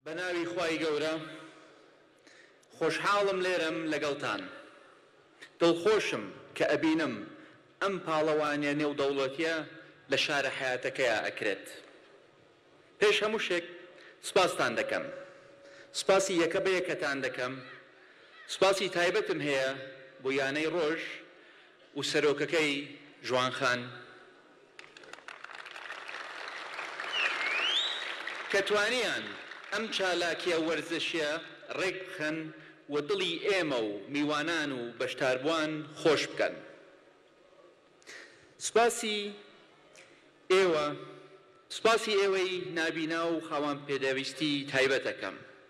بەناوی خوای گەورە خۆشحاڵم لێرەم لەگەڵتان دڵخۆشم کە ئەبینم ئەم پاڵەوانیە نێودەوڵەتیە لە شارە حەیاتەکەیا ئەکرێت پێش هەموو شێک سوپاستان دەکەم سوپاسی یەکە بە یەکەتان دەکەم سوپاسی تایبەتم هەیە بۆ یانەی ڕۆژ و سەرۆکەکەی ژوان خان کە توانیان ئەم چالاکیە وەرزشیە ڕێک بخەن و دڵی ئێمە و میوانان و بەشداربوان خۆش بکەن سوپاسی ئێوە سوپاسی ئێوەی نابینا و خاوەن پێدەویستی تایبەت ئەکەم.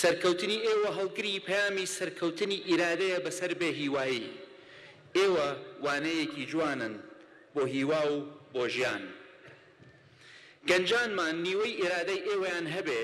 سەرکەوتنی ئێوە هەڵگری پەیامی سەرکەوتنی ئیرادەیە بەسەر بێ هیوایی. ئێوە وانەیەکی جوانن بۆ هیوا و بۆ ژیان. گەنجانمان نیوەی ئیرادەی ئێوەیان هەبێ،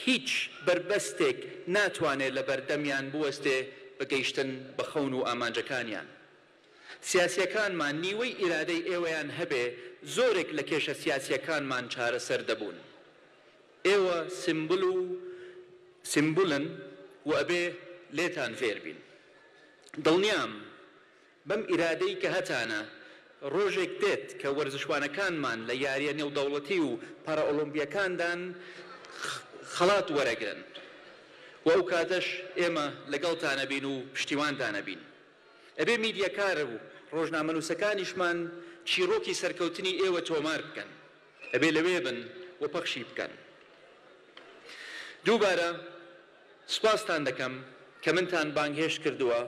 هیچ بەربەستێک ناتوانێ لە بەردەمیان بوەستێ بە گەیشتن بە خەون و ئامانجەکانیان. سیاسیەکانمان نیوەی ئیرادەی ئێوەیان هەبێ، زۆرێک لە کێشە سیاسیەکانمان چارەسەر دەبوون. ئێوە سمبل و سمبولن و ئەبێ لێتان فێر بین. دڵنیام بەم ئیرادەی کە هەتانە ڕۆژێک دێت کە وەرزشوانەکانمان لە یاریە نێودەوڵەتی و پارائۆلۆمپیەکاندان خەڵات وەرەگرن و ئەو کاتەش ئێمە لەگەڵتان ئەبین و پشتیوانتان ئەبین. ئەبێ میدیەکار و ڕۆژنامەنووسەکانیشمان چیڕۆکی سەرکەوتنی ئێوە تۆمار بکەن. ئەبێ لەوێ بن و پەخشی بکەن. دووبارە سوپاستان دەکەم کە منتان بانگهێشت کردووە.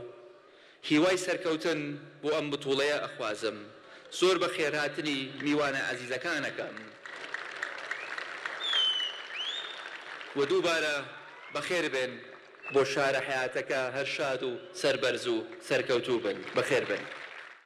هیوای سەرکەوتن بۆ ئەم بتوڵەیە ئەخوازم. زۆر بەخێرهاتنی میوانە ئازیزەکان ئەکەم و دووبارە بەخێربێن بۆ شارە حەیاتەکە. هەر شاد و سەربەرز و سەرکەوتوو بن. بەخێربێن.